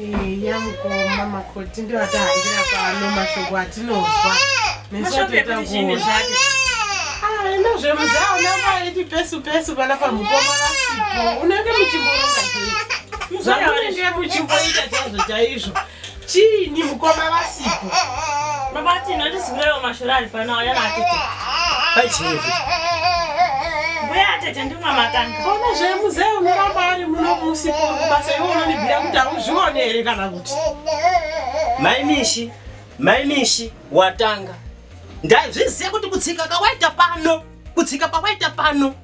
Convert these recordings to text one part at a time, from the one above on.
Eya mukoma makoti ndiwo atahambira pano mashoko atinozwa nesu atoita kuona enda zvemuzaona maiti pesu pesu pana pamukoma vasipo unenge muchimboronga chii zvamunenge muchimboita chaizvo chaizvo chiini mukoma vasipo baba tinotizivewo mashura ari pano ayana atete pachii uyatete ndimwa makanga ona zvemuzee unoramba ari muno musi basa iwe unonibvira kuti hauzvione here kana kuti maimishi maimishi watanga ndazviziva kuti kutsika kawaita pano kutsika pawaita pano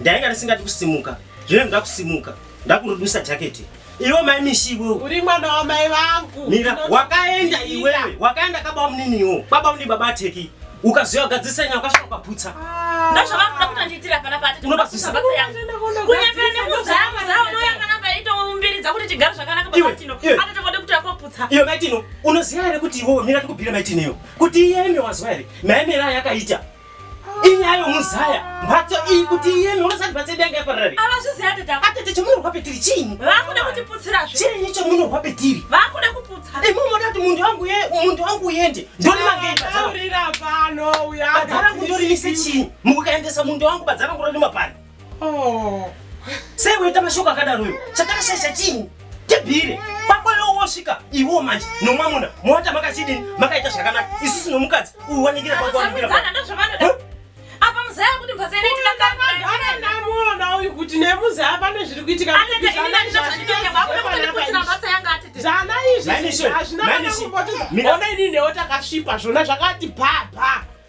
Ndainga ndisingadi kusimuka. Zvino ndoda kusimuka. Ndakurudusa jacket. Iwe mai mishi iwe. Uri mwana wa mai vangu. Mira, wakaenda iwe. Wakaenda ka baba munini iwe. Baba munini baba teki. Ukaziwa gadzisa nyaya ukashoka paputsa. Ah. Ndasha vangu ndakuta nditira pana pati. Unobazisa baba yangu. Kunyepera nemuzama zawo no yakana paito mumbiri dzakuti tigare zvakanaka baba tino. Ata tokode kuti akoputsa. Iwe mai tino, unoziva here kuti iwe mira tikubira mai tino. Kuti iye ende wazwa here? Mai mira yakaita. inyayo muzaya mhatso iyi kuti iyeme unasati mhatso yedu yanga yapararari avazviziva tete atete chomunorwa petiri chiinyi vakuda kutiputsira zve chiinyi chomunorwa petiri vakuda kuputsa imi unoda kuti munhu wangu ye munhu wangu uyende ndori mageaurira pano uyaarangu ndorimise chiinyi mukukaendesa munhu wangu badzarangu rorima pano Oh. Sei uita mashoko akadaro uyo? Chatakashaisha chini? Tibhire. Pako leo wosvika iwo manje nomwamuna mowata makachidini makaita zvakanaka isusu nomukadzi uyu wanikira pako wanikira pako. Apa muzaya kuti mbaza ine tina kanga gara namuona uyu kuti nemuzaya pane zviri kuitika. Ana ine ine zvazvitoke vakuna kuti kutsina mbatsa yanga atete. Zana izvi hazvina kana kumboti. Ona ini newo takasvipa zvona zvakati bha bha.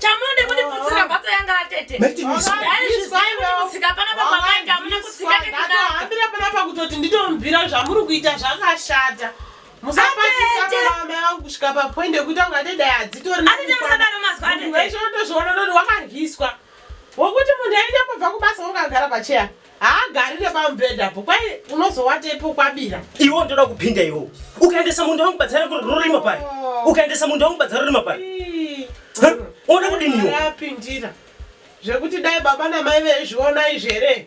chamunode kundiputsira mhatso yanga atete aizvizivaikutsika pana pamamainge amuna kutsika nekudahambira pana pakutoti nditomubvira zvamuri kuita zvakashata musapatisaaakusvika papoint yekuita kunga tedai hadzitoriweshe unotozviona noti wakarwiswa wokuti munhu aenda kubva kubasa wokagara pacheya haagarire pamubhedha po kwai unozowata ipo kwabira iwo ndoda kupinda iwo ukaendesa munda wangu badzara rurima pari oh. ukaendesa munda wangu badzara rurima pari unoda kudiniwo apindira zvekuti dai baba namai veizviona izvi here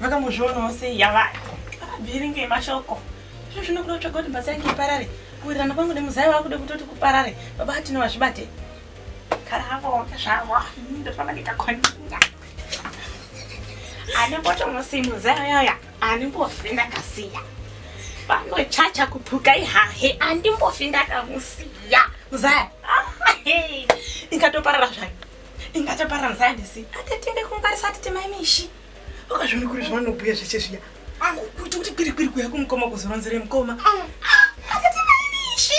vakambozvionawo sei yavaya vavhiringe mashoko zvino zvinokuda kutsvaga kuti mbatsa yange iparare kuwirirana kwangu nemuzai wakuda kutoti kuparare baba atine vazvibate karavo zvavo ndofamba ndikakonina ane mboto musi muzai uyauya ani mbofi ndakasiya vanochacha kupuka ihahe andimbofi ndakamusiya muzai ikatoparara zvayo inga taparanzai ndisi atetimbe kungwarisa atete mai mishi ukazviona kuri zvavanobhuya zveshe zviya kuti kuti kwirikwiri kuya kumukoma kuzoronzere mukoma atete mai mishi